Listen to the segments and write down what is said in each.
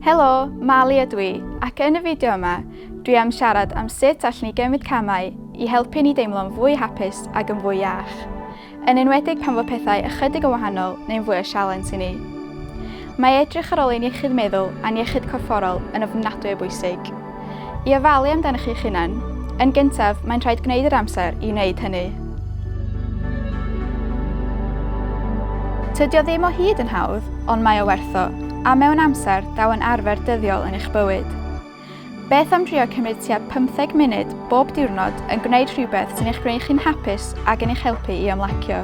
Helo, Mali ydw i, ac yn y fideo yma, dwi am siarad am sut allwn ni gymryd camau i helpu ni deimlo'n fwy hapus ac yn fwy iach, yn enwedig pan fo pethau ychydig yn wahanol neu'n fwy o sialens i ni. Mae edrych ar ôl ein iechyd meddwl a'n iechyd corfforol yn ofnadwy o bwysig. I ofalu amdanoch chi'ch hunain, yn gyntaf, mae'n rhaid gwneud yr amser i wneud hynny. Tydio ddim o hyd yn hawdd, ond mae o wertho, a mewn amser, daw yn arfer dyddiol yn eich bywyd. Beth am drio cymryd tua 15 munud bob diwrnod yn gwneud rhywbeth sy'n eich gwneud chi'n hapus ac yn eich helpu i ymlacio?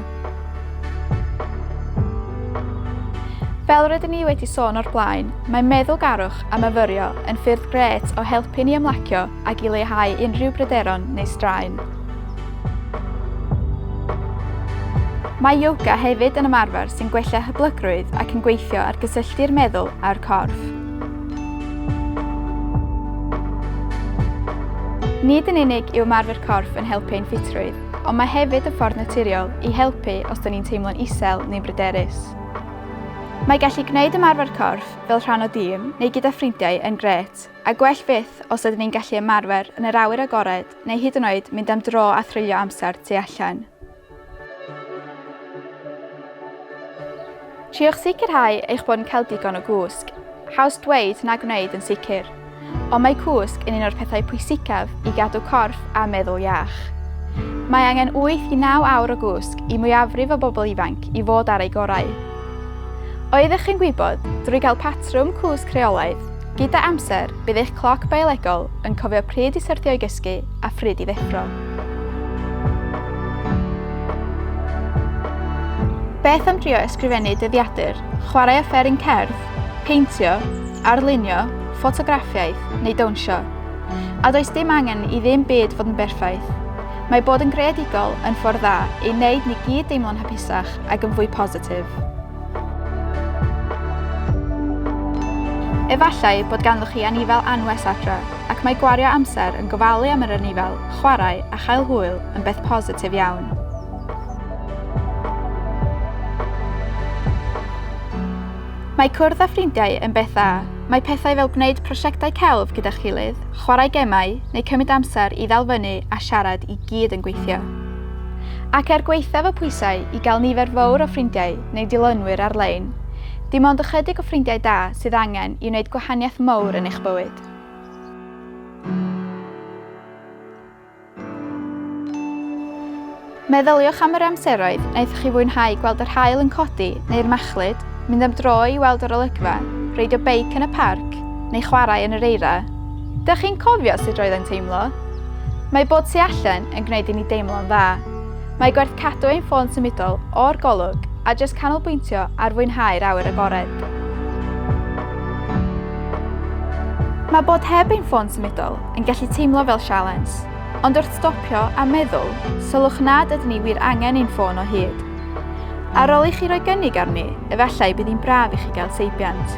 Fel rydyn ni wedi sôn o'r blaen, mae meddwlgarwch a myfyrio yn ffyrdd grêt o helpu ni ymlacio ac i leihau unrhyw bryderon neu straen. Mae yoga hefyd yn ymarfer sy'n gwella hyblygrwydd ac yn gweithio ar gysylltu'r meddwl a'r corff. Nid yn unig yw ymarfer corff yn helpu ein ffitrwydd, ond mae hefyd y ffordd naturiol i helpu os dyn ni'n teimlo'n isel neu'n bryderus. Mae gallu gwneud ymarfer corff fel rhan o dîm neu gyda ffrindiau yn grêt, a gwell fyth os ydyn ni'n gallu ymarfer yn yr awyr agored neu hyd yn oed mynd am dro a threulio amser tu allan. Triwch sicrhau eich bod yn cael digon o gwsg. Haws dweud na gwneud yn sicr. Ond mae cwsg yn un o'r pethau pwysicaf i gadw corff a meddwl iach. Mae angen 8 i 9 awr o gwsg i mwyafrif o bobl ifanc i fod ar ei gorau. Oeddech chi'n gwybod, drwy gael patrwm cwsg rheolaidd, gyda amser bydd eich cloc biolegol yn cofio pryd i syrthio i gysgu a phryd i ddeffro. Beth am drio ysgrifennu dyddiadur, chwarae offeryn cerdd, Peintio, arlunio, ffotograffiaeth, neu dawnsio. A does dim angen i ddim byd fod yn berffaith. Mae bod yn greadigol yn ffordd dda ei wneud ni gyd deimlo'n hapusach ac yn fwy positif. Efallai bod ganddoch chi anifail anwes adre, ac mae gwario amser yn gofalu am yr anifail, chwarae a chael hwyl yn beth positif iawn. Mae cwrdd â ffrindiau yn beth dda. Mae pethau fel gwneud prosiectau celf gyda'ch gilydd, chwarae gemau, neu cymryd amser i ddal fyny a siarad i gyd yn gweithio. Ac er gwaethaf y pwysau i gael nifer fawr o ffrindiau neu dilynwyr ar-lein, dim ond ychydig o ffrindiau da sydd angen i wneud gwahaniaeth mawr yn eich bywyd. Meddyliwch am yr amseroedd wnaethoch chi fwynhau gweld yr haul yn codi neu'r machlud, mynd am dro i weld yr olygfa, reidio beic yn y parc, neu chwarae yn yr eira. Dych chi'n cofio sut roedd e'n teimlo? Mae bod tu allan yn gwneud i ni deimlo'n dda. Mae gwerth cadw ein ffôn symudol o'r golwg a jyst canolbwyntio ar fwynhau'r awyr agored. Mae bod heb ein ffôn symudol yn gallu teimlo fel sialens, ond wrth stopio a meddwl, sylwch nad ydyn ni wir angen ein ffôn o hyd. Ar ôl i chi roi gynnig arni, efallai bydd hi'n braf i chi gael seibiant.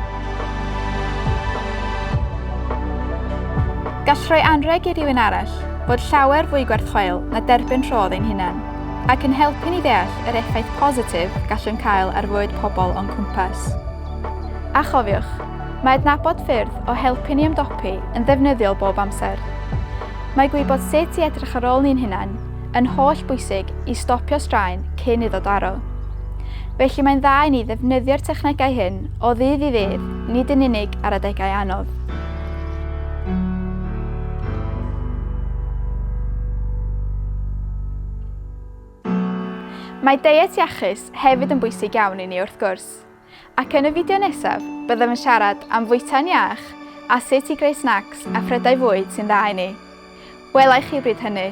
Gall rhoi anrheg i rywun arall fod llawer fwy gwerthchweil na derbyn rhodd ein hunain, ac yn helpu ni ddeall yr effaith positif gallwn cael ar fywyd pobl o'n cwmpas. A chofiwch, Mae adnabod ffyrdd o helpu ni ymdopi yn ddefnyddiol bob amser. Mae gwybod sut i edrych ar ôl ni'n hunain yn holl bwysig i stopio straen cyn iddo daro. Felly mae'n dda i ni ddefnyddio'r technegau hyn o ddydd i ddydd, nid yn unig ar adegau anodd. Mae deiet iachus hefyd yn bwysig iawn i ni wrth gwrs. Ac yn y fideo nesaf, byddem yn siarad am fwyta'n iach a sut i greu snacs a phrydau fwyd sy'n dda i ni. Wela i chi bryd hynny!